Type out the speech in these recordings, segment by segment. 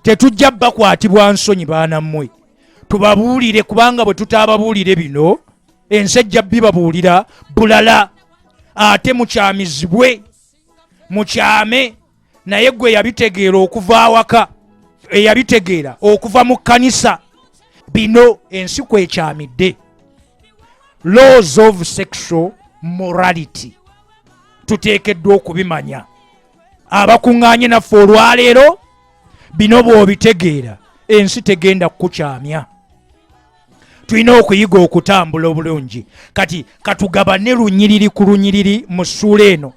tetujja bakwatibwa nsonyi baana mmwe tubabuulire kubanga bwe tutaababuulire bino ensi ejja bibabuulira bulala ate mukyamizibwe mukyame naye gwe yabitegeera okuva awaka eyabitegeera okuva mu kkanisa bino ensi kwekyamidde laws of sexual morality tuteekeddwa okubimanya abakuŋŋaanye naffe olwaleero bino bw'obitegeera ensi tegenda kukukyamya tulina okuyiga okutambula obulungi kati katugabane lunyiriri ku lunyiriri mu ssuula eno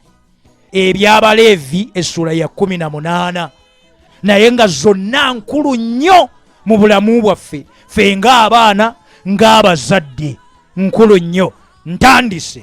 ebyabaleevi essuula ya 18 naye nga zonna nkulu nnyo mu bulamu bwaffe fe ng'abaana ng'abazadde nkulu nnyo ntandise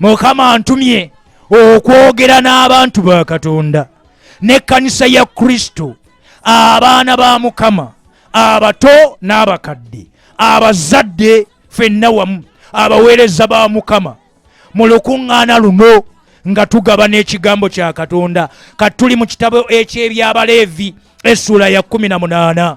mukama antumye okwogera n'abantu ba katonda n'ekkanisa ya kristo abaana ba mukama abato n'abakadde abazadde fenna wamu abaweereza ba mukama mu lukuŋŋaana luno nga tugaba n'ekigambo kya katonda kati tuli mu kitabo eky'ebyabaleevi essuula ya 18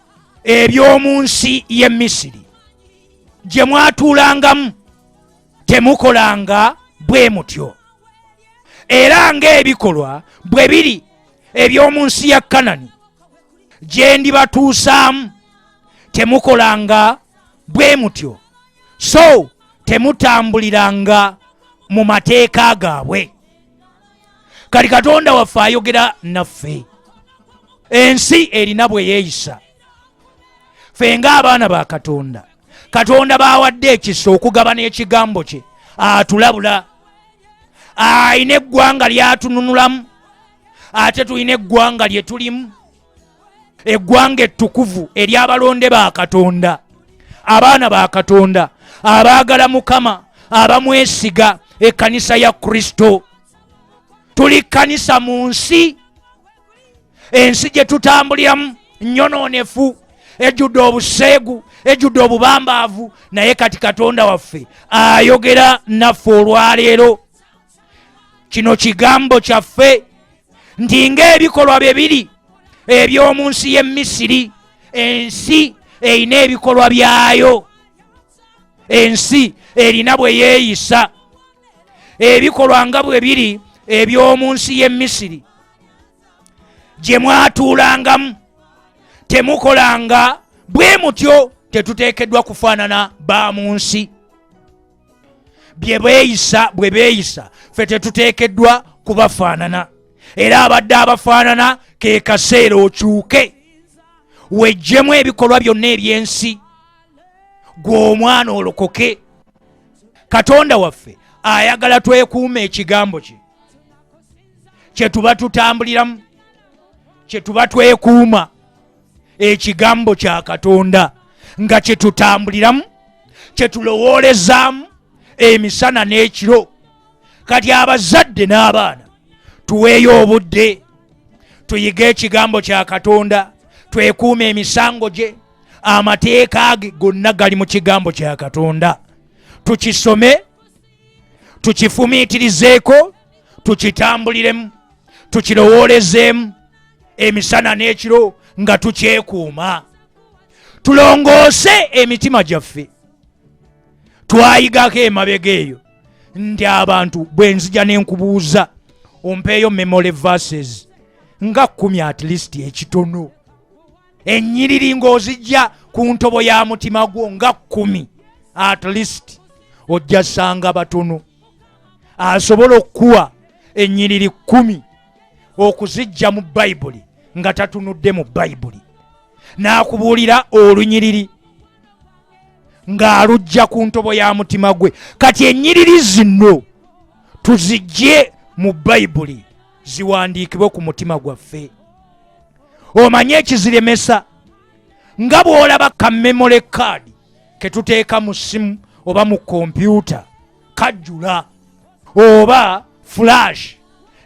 eby'omu nsi y'e misiri gye mwatuulangamu temukolanga bwe mutyo era ng'ebikolwa bwe biri eby'omu nsi ya kanani gye ndibatuusaamu temukolanga bwe mutyo so temutambuliranga mu mateeka gaabwe kati katonda waffe ayogera naffe ensi erina bwe yeeyisa ffe ng'abaana ba katonda katonda baawadde ekisa okugabana ekigambo kye atulabula alina eggwanga lyatununulamu ate tulina eggwanga lye tulimu eggwanga ettukuvu ery'abalonde ba katonda abaana ba katonda abaagala mukama abamwesiga ekkanisa ya kristo tuli kkanisa mu nsi ensi gye tutambuliramu nnyonoonefu ejjudde obuseegu ejjudde obubambaavu naye kati katonda waffe ayogera naffe olwaleero kino kigambo kyaffe nti ng'ebikolwa bye biri eby'omu nsi y'e misiri ensi erina ebikolwa byayo ensi erina bwe yeeyisa ebikolwa nga bwe biri eby'omu nsi y'e misiri gye mwatuulangamu temukolanga bwe mutyo tetuteekeddwa kufaanana ba mu nsi bye beeyisa bwe beeyisa ffe tetuteekeddwa kubafaanana era abadde abafaanana ke kaseera okyuke wejjemu ebikolwa byonna eby'ensi gwe omwana olokoke katonda waffe ayagala twekuuma ekigambo kye kyetuba tutambuliramu kyetuba twekuuma ekigambo kya katonda nga kyetutambuliramu kyetulowoolezaamu emisana n'ekiro kati abazadde n'abaana tuweeyo obudde tuyige ekigambo kya katonda twekuuma emisango gye amateeka ge gonna gali mu kigambo kya katonda tukisome tukifumiitirizeeko tukitambuliremu tukirowoolezeemu emisana n'ekiro nga tukyekuuma tulongoose emitima gyaffe twayigako emabega eyo nti abantu bwe nzija ne nkubuuza ompeeyo memory verses nga kumi at least ekitono ennyiriri ng'ozijja ku ntobo ya mutima gwo nga kkumi at least ojja sanga batono asobola okukuwa ennyiriri kkumi okuzijja mu bayibuli nga tatunudde mu bayibuli n'akubuulira olunyiriri ng'alujja ku ntobo ya mutima gwe kati ennyiriri zino tuzijje mu bayibuli ziwandiikibwe ku mutima gwaffe omanyi ekiziremesa nga bw'olaba ka memory card ke tuteeka mu ssimu oba mu kompyuta kajjula oba flash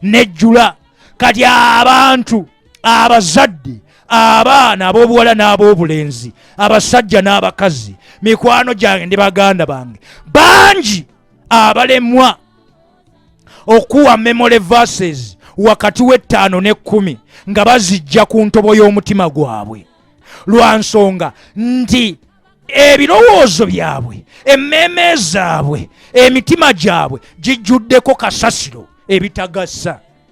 nejjula kati abantu abazadde abaana ab'obuwala n'ab'obulenzi abasajja n'abakazi mikwano gyange ndi baganda bange bangi abalemwa okuwa memory verses wakati w'ettaano n'ekkumi nga bazijja ku ntobo y'omutima gwabwe lwa nsonga nti ebirowoozo byabwe emmeeme zaabwe emitima gyabwe gijjuddeko kasasiro ebitagasa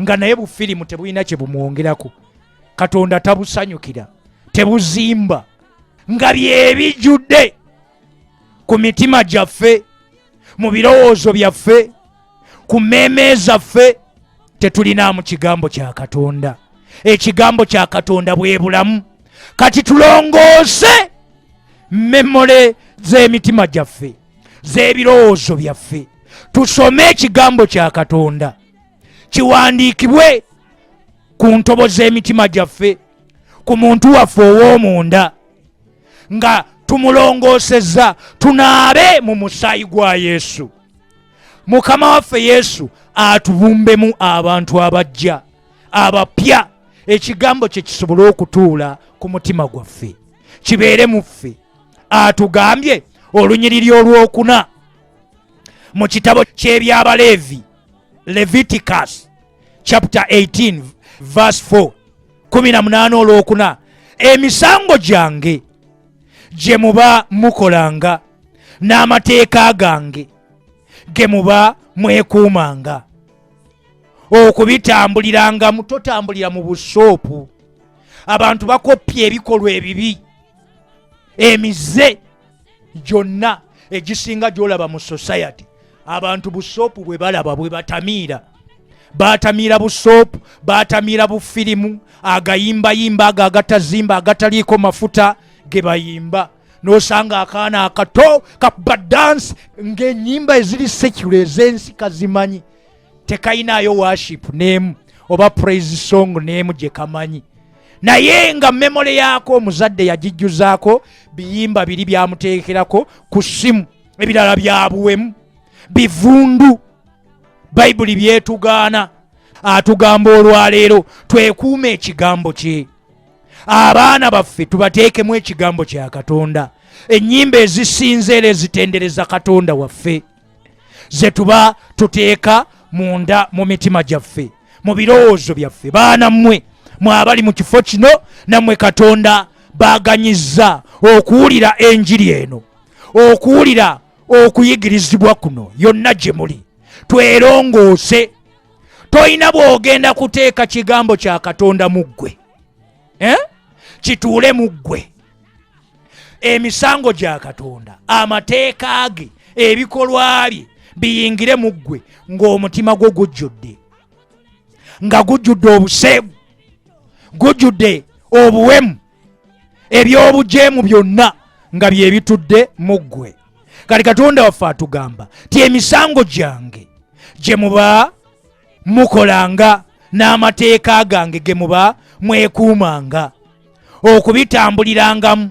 nga naye bufirimu tebulina kye bumwongerako katonda tabusanyukira tebuzimba nga byebijjudde ku mitima gyaffe mu birowoozo byaffe ku mmeeme zaffe tetulinaamu kigambo kya katonda ekigambo kya katonda bwe bulamu kati tulongoose memole z'emitima gyaffe z'ebirowoozo byaffe tusome ekigambo kya katonda kiwandiikibwe ku ntobo z'emitima gyaffe ku muntu waffe ow'omunda nga tumulongoosezza tunaabe mu musaayi gwa yesu mukama waffe yesu atubumbemu abantu abajja abapya ekigambo kye kisobole okutuula ku mutima gwaffe kibeere mu ffe atugambye olunyiriri olwokuna mu kitabo ky'ebyabaleevi leviticus chapter 18 verse 4 18 olwokuna emisango gyange gye muba mukolanga n'amateeka gange ge muba mwekuumanga okubitambulirangamu totambulira mu busoopu abantu bakoppya ebikolwa ebibi emize gyonna egisinga gyolaba mu society abantu busoopu bwe balaba bwe batamiira batamiira busoopu batamiira bufirimu agayimbayimba ago agatazimba agataliiko mafuta ge bayimba nosanga akaana akato kakuba dansi ng'enyimba eziri sekula ez'ensi kazimanyi tekayinaayo worship neemu oba praise song neemu gye kamanyi naye nga memole yaako omuzadde yagijjuzaako biyimba biri byamuteekerako ku ssimu ebirala byabuwemu bivundu bayibuli byetugaana atugamba olwaleero twekuuma ekigambo kye abaana baffe tubateekemu ekigambo kya katonda ennyimba ezisinzeera ezitendereza katonda waffe ze tuba tuteeka munda mu mitima gyaffe mu birowoozo byaffe baana mmwe mwabali mu kifo kino nammwe katonda baaganyizza okuwulira enjiri eno okuwulira okuyigirizibwa kuno yonna gye muli twerongoose tolina bw'ogenda kuteeka kigambo kya katonda mu ggwe eh? kituule mu ggwe emisango gya katonda amateeka ge ebikolwa bye biyingire mu ggwe ng'omutima gwo gujjudde nga gujjudde obuseegu gujjudde obuwemu ebyobujeemu byonna nga bye bitudde mu ggwe kati katonda waffe atugamba ti emisango gyange gye muba mukolanga n'amateeka gange ge muba mwekuumanga okubitambulirangamu